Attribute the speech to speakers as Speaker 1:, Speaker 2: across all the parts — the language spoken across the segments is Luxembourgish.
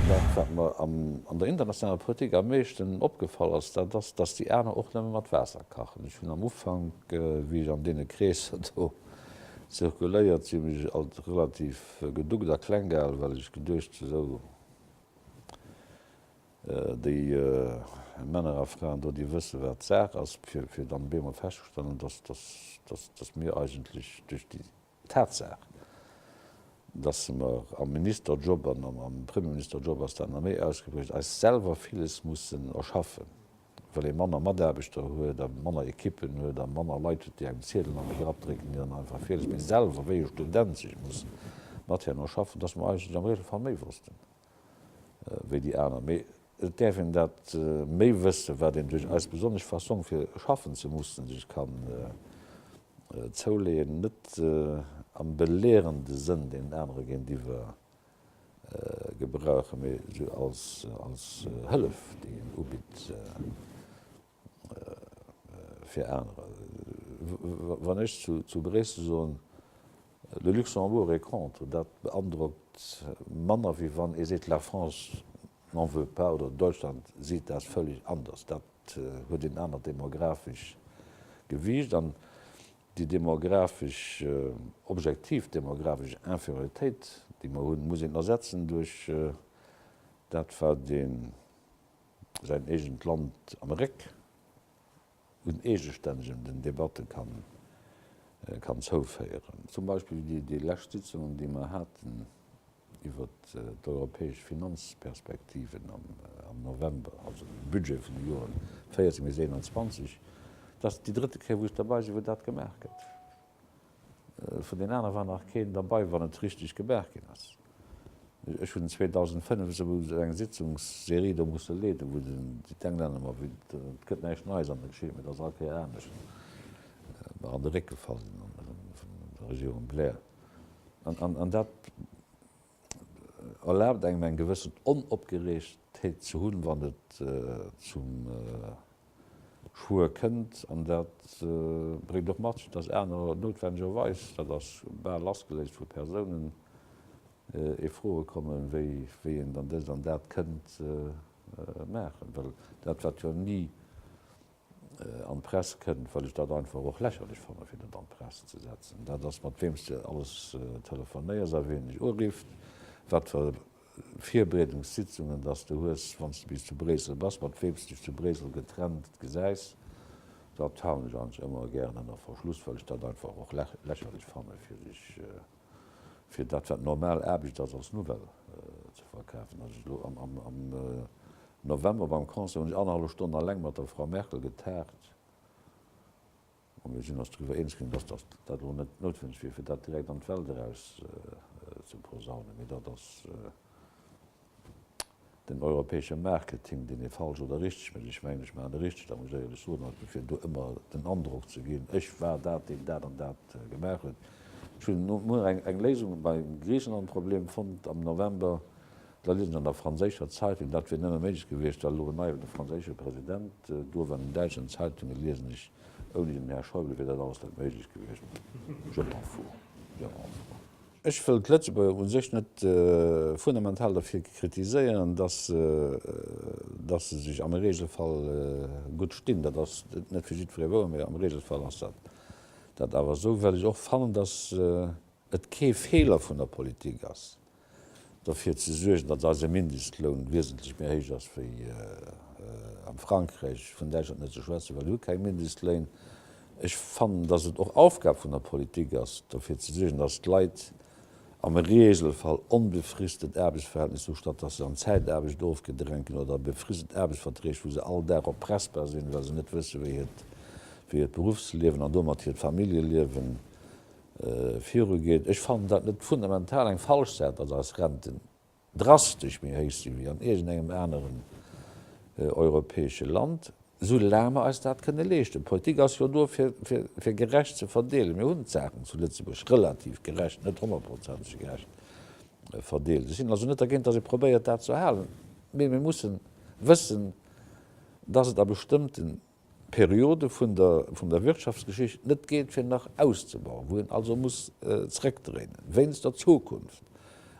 Speaker 1: Dat, wat mer an der internationaler Politik am meeschten opgefall ass, dat ass, dass déi aner och nëmme mat Waasser kachen. Ech hunn am Ufank, wéi ech an deene Kreesser do zirkuléiert sinn, mech alt relativ geduckt a kleng gehalen, well ech geduecht, esou, Déi Männer a Fraen do, déi wësse wat Saach ass, fir dann op eemol festzestellen, datt mir eigentlech duerch déi Tatsaach, datt mer am Ministerjob an am Premierministerjob ass dat nach méi ausgeprägt, eis selwer villes mussen erschaffen, well ee manner Mataarbechter huet a manner Ekippen huet a manner Leit huet, déi engem Ziedel an de Grapp drécken, déi dann einfach villes méi selwer wéi e Student sech mussen mat hinnen erschaffen, datt mer eigentlech am Regelfall méi wossten. wéi déi aner, mee et däerf een dat méi wëssen, wat een duerch eis besonnesch Fassong fir schaffen ze mussen sech ka zouleeën, net am belehrende Sënn deenen anere géintiwwer gebrauchen, mee esou als Hëllef, déi een ubitt. Fir anerer, wann ech zu Bréissel soen le Luxembourg est contre, dat beandrockt manner wéi wann ee seet la France n'en veut pas oder Deutschland seet dat völlig anders. Dat huet en anert demografescht Gewiicht an déi demografesch, objektiv demografesch Inférioritéit déi mer hunn, muss een ersetzen duerch dat wat een, säin eegent Land am Réck un eegestännegen den Debatte kann zouféieren. Zum Beispill déi lescht Sitzungen, déi mer haten iwwer d'europäesch Finanzperspektiven am November, also de Budget vun de Joren 14 bis 21, dat ass déi drëtte Kéier, wou ech derbäi sinn, wou dat gemaach gëtt. Vun den anere war nach keen derbei, wann et richteg gemaach ginn ass. Ech hunn 2005 esou eng Sitzungsserie do musse leeden, wou den D'Englänner mer, wéi et gëtt näischt Neies an der Geschicht, mee et ass all Kéier anescht, mer an de Réck gefall sinn vun der Regierung Blair. An dat erlaabt engem eng gewëssen Onopgereegtheet ze hunn, wann et zum Schwuer kënnt. An dat bréngt och mat sech, dass anerer noutwennegerweis, dat ass bal lassgeléist vu Persounen, ee froe kommen, wéi een dann dëst an dat kënnt maachen, well dat, wat jo ni an d'Press kënnt, well ech dat einfach och lächerlech fanne fir dat an d'Press ze setzen. Dat ass mat weems de alles telefonéiers a wien dech urifft, wat fir Virbereedungssitzungen datt s de hues, wann s de bis zu Bréissel bass, mat weems dech zu Bréissel getrennt gesäis, dat halen ech eigentlech ëmmer gär ënner Verschluss, well ech dat einfach och lächerlech fanne fir dech. fir dat wat normal Aarbecht ass als Nouvelle ze verkafen. Als ech elo am November beim Concert hunn ech annerhallef Stonn alleng mat der Frau Merkel getaagt a mir sinn eis driwwer eens ginn, datt dat elo net noutwenneg wier fir dat direkt an d'Welt eraus ze posaunen, mee dat ass, Den europäesche Marketing, deen ee falsch oder richteg mécht, ech mengen, ech maachen e richtegt Arrangéieren, ech soen also, fir do ëmmer den Androck ze ginn, ech war dat, deen dat an dat gemaach huet. Ech hunn no muer eng Léisung beim Griichenland-Problem fonnt am November, da liest ech an der franséischer Zeitung, dat wier nëmme méiglech gewiescht, well elo en neie franséische President do war, an den däitschen Zeitunge liesen ech, ouni den Här Schäuble wier dat alles net méiglech gewiescht. Je m'en fous. Ech wëll d'Lëtzebuerger u sech net fundamental derfir kritiséieren, datt se sech am Regelfall gutt stinn. Dat ass net fir jiddweree wouer, mee am Regelfall ass dat awer esou, well ech och fannen, datt et kee Feeler vun der Politik ass, derfir ze suergen, datt eise Mindestloun wiesentlech méi héich ass wéi am Frankräich, vun Däitschland net ze schwätzen, well si hu keng Mindestléin, Ech fannen, dass et och Aufgab vun der Politik ass, derfir ze suergen, dass d'Leit am Regelfall onbefristet Aarbechtsverhältnisser hu, statt dass se an Zäitaarbecht ofgedrängt ginn oder a befristet Aarbechtsverträg, wou se all Dag erpressbar sinn, well se net wëssen, wéi hiert Berufsliewen an domat hiert Familljeliewe virugeet. Ech fannen dat net fundamental eng falsch Säit ass, eis Renten drastesch méi héich sinn, wéi an iergendengem aneren europäesche Land, soulaang mer eis dat kënne leeschten. D'Politik ass jo do, fir gerecht ze verdeelen. Mir hunn d'Saachen zu Lëtzebuerg relativ gerecht, net honnertprozenteg gerecht verdeelt. Ech sinn also net dergéint, datt ee probéiert, dat ze erhalen. Mee mir mussen wëssen, datt et a bestëmmten Periode vun der Wirtschaftsgeschicht net geet fir nach auszebauen, wou een also muss zréckdréinen wéinst der Zukunft.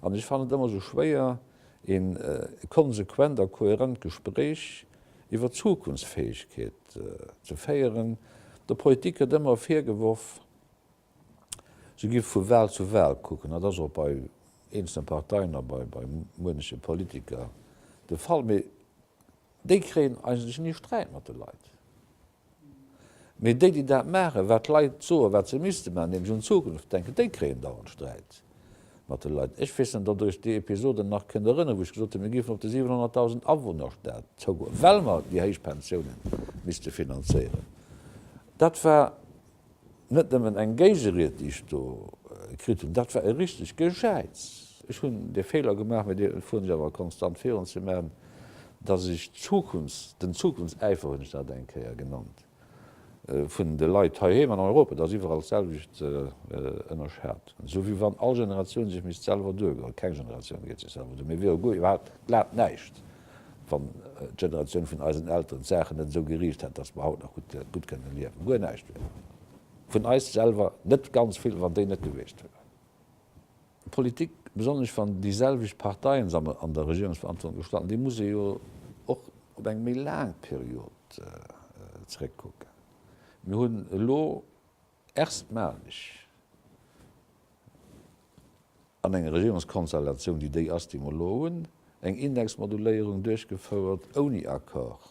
Speaker 1: An ech fannen et ëmmer esou schwéier ee konsequent a kohärent Gespréich iwwer d'Zukunftsfäegkeet ze féieren. Der Politik gëtt ëmmer virgeworf, se géif vu Wal zu Wal kucken. Dat ass och bei eenzelne Parteien a bei muenche Politiker de Fall. Déi kréien eigentlech ni Sträit mat de Leit. Mee déi, déi dat maachen, wat d'Leit soen, wat se misste maachen, nämlech un d'Zukunft denken, déi kréien dauernd Sträit mat de Leit. Ech weess net, ob Der Iech déi Episode nach kënnt erënneren, wou ech gesot hunn, mir géifen op de 700.000 Awunner Stat zougoen, well mer déi héich Pensiounen misste finanzéieren. Dat war net nëmmen eng Géigeried, déi ech do kritt hunn, dat war e richteg Gejäiz. Ech hunn de Feeler gemaach, mä dee fueren ech awer konstant virun, ze maachen, dass ech d'Zukunfts-, den Zukunftsäifer hunn ech dat eng Kéier genannt, vun de Leit heiheem an Europa, dass iwwerall d'selwecht ënnerschat, esou wéi wann all Generatioun sech misst selwer duergoen. Keng Generatioun geet sech selwer duer, mir wier jo guer iwwerhaupt, glad, näischt. wann d'Generatioun vun eisen Elteren d'Saachen net esou geriicht hätt, dass mer haut nach gutt kënnen liewen. Guer näischt wier vun eis selwer net ganz vill, wann déi net gewiescht wieren. D'Politik, besonnesch wann déi selwecht Parteien se an der Regierungsverantwortung gestalten, déi muss ee jo och op eng méi laang Period zeréckkucken. Mir hunn elo Erstmalig an enger Regierungskonstellatioun, déi déi ass, déi mer elo hunn, eng Indexmoduléierung duerchgefouert ouni Accord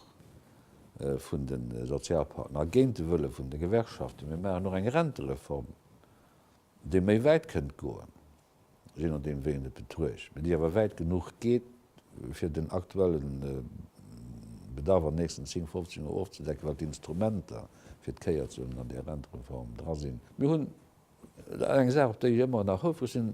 Speaker 1: vun de Sozialpartner a géint de Wëlle vun de Gewerkschaften. Mir maachen och eng Rentereform, déi méi wäit kënnt goen. je nodeem wéi een et betruecht, mee déi awer wäit genuch geet, fir den aktuelle Bedarf an nächsten 10, 15 Joer ofzedecken, wat d'Instrumenter fir d'Kéier ze hunn an där Rentereform dra sinn. Mir hunn eng Saach, op déi ech ëmmer nach houfreg sinn,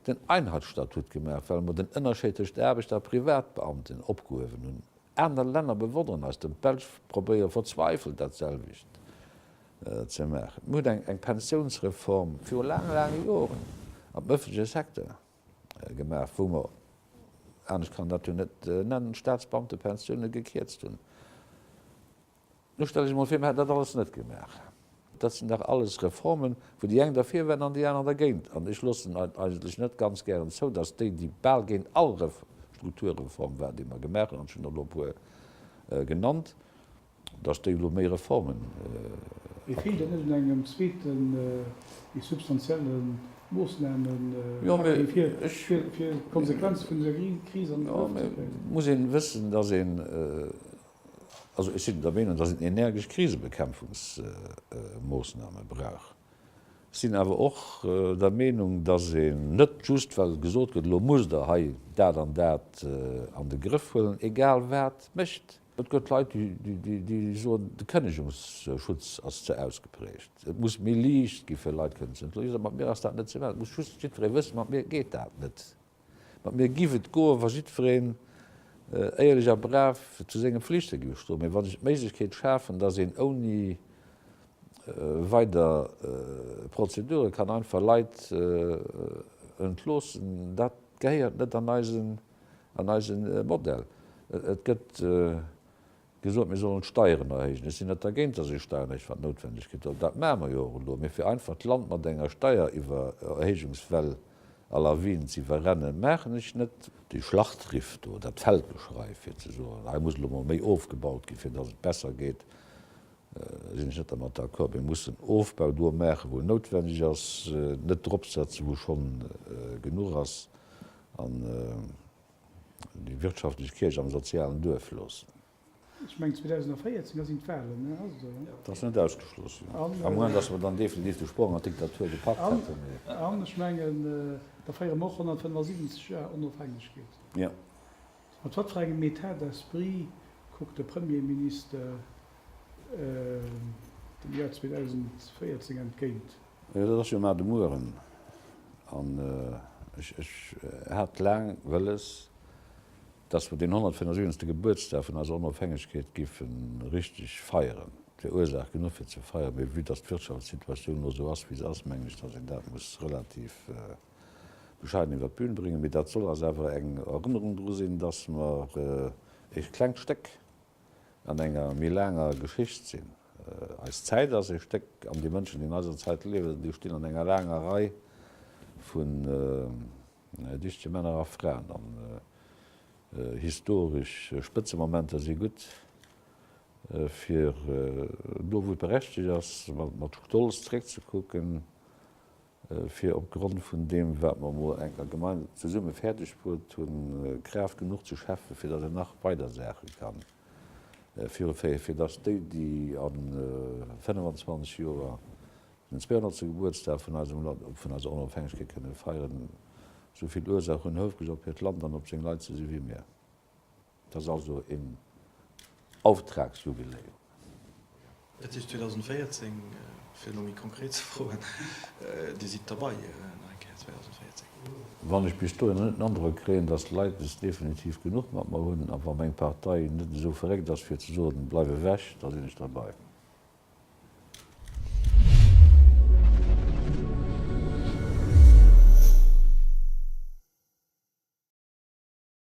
Speaker 1: den Einheitsstatut gemaach, well mer den Ënnerscheid tëscht Aarbechter a Privatbeamten opgehuewen hunn. Aner Länner bewonneren eis, der Belsch probéiert verzweifelt dat selwecht. ze maachen. Mir hunn eng Pensiounsreform viru laange, laange Joren am ëffentleche Secteur gemaach, wou mer, anescht kann een dat jo net nennen, d'Staatsbeamtepensioune gekierzt hunn. Elo stelle ech emol vir, mir hätten dat alles net gemaach. Dat sinn dach alles Reformen, wou déi eng derfir waren an déi aner dergéint. An ech loossen et eigentlech net ganz gären zou, dass déi, déi bal géint all Strukturreform waren, déi mer gemaach hunn, an ech hunn der elo e puer genannt, Da stéing elo méi Reformen am Programm.
Speaker 2: Feelt et net un engem zweeten, méi substantielle Moossnahmepakket, fir d'Konsequenze vun dëser Kris an de Grëff ze kréien? Et
Speaker 1: muss ee wëssen, dass een, also ech sinn der Meenung, dass een energesch Krisebekämpfungsmoossnahme brauch. Ech sinn awer och der Meenung, dass een net just, well gesot gëtt, elo musst Der hei dat an dat an de Grëff huelen, egal wat mécht. Et gëtt Leit, déi soen, de Kënnegungsschutz ass ze ausgeprägt, et muss méi liicht gi fir Leit kënnen ze entloen. Ech soen, mat mir ass dat net ze maachen. Et muss just jiddweree wëssen, mat mir geet dat net. Mat mir giff et goen, wa jiddwereen éierlech a brav zu senge Pflichte géif stoen. Mee wann ech d'Méiglechkeet schafen, dass een ouni weider Prozedure kann einfach Leit entloossen, dat gehéiert net an eisen. an eise Modell. Et gëtt gesot, mir sollen d'Steieren erhéijen. Ech sinn net dergéint, datt ee Steieren erhéicht, wat noutwendeg gëtt, an dat maache mer jo och elo. Mee fir einfach d'Land mat enger Steiererhéijungswell à la Wien ze iwwerrennen, maachen ech net. Déi Schlachtriff do, dat Feldgeschrei, fir ze soen, hei muss elo emol méi ofgebaut ginn, fir datt et besser geet, sinn ech net dermat d'accord. Mir mussen Ofbau do maachen, wou en noutwendeg ass, net dropsetzen, wou schonn genuch ass. An déi wirtschaftlech Kierch am sozialen Duerf loossen. Ech mengen 2014,
Speaker 2: da sinn d'Wahlen, ass et esou? Dat ass net ausgeschloss,
Speaker 1: jo. Am Moment, datt mer dann definitiv de Sprong an d'Diktatur gepackt hätten, mee. An ech mengen,
Speaker 2: da féiere mer och 175 Joer Onofhängegkeet. Jo.
Speaker 1: Mat wat
Speaker 2: fir engem Etat d'esprit kuckt de Premierminister dem Joer 2014 entgéint? Jo, dat ass jo mar
Speaker 1: de Mueren. An ech hat laang wëlles, dass mer deen 175. Gebuertsdag vun eiser Onofhängegkeet géife richtig feieren. Et wier Ursaach genuch fir ze feieren, mee vue dass d'Wirtschaftssituatioun elo esou ass, wéi se ass, mengen ech, dass een dat muss relativ. bescheiden iwwer d'Bühn bréngen, mee dat soll eis awer eng Erënnerung dru sinn, dass mer ee klengt Stéck an enger méi laanger Geschicht sinn. Eis Zäit ass ee Stéck an déi Mënschen, déi an eiser Zäit liewen, déi stinn an enger laanger Rei vun dichte Männer a Fraen an historesch Spëtzemomenter si gutt, fir do, wou et berechtegt ass, mat Stolz zréckzekucken. fir opgrond vun deem, wat mer emol enker gemeinsam zesumme fäerdegbruet hunn, Kraaft genuch ze schäffe fir datt een nach weider Saache ka viru féieren, fir datt déi, déi a 25 Joer den 200. Gebuertsdag vun eisem Land, vun eiser Onofhängegkeet kënne feieren, esou vill Ursaach hunn, houfreg op hiert Land an op seng Leit ze si wéi mir. Et ass also een Auftragsjubiläum. Et
Speaker 3: si 2014, fir elo méi konkret ze froen, Dir sidd derbei nach eng Kéier 2014? Wann ech
Speaker 1: bis dohinner net den Androck kréien, datt d'Leit es definitiv genuch mat mer hunn, a wa meng Partei net esou verréckt ass fir ze soen, Bleif ewech! da sinn ech derbei.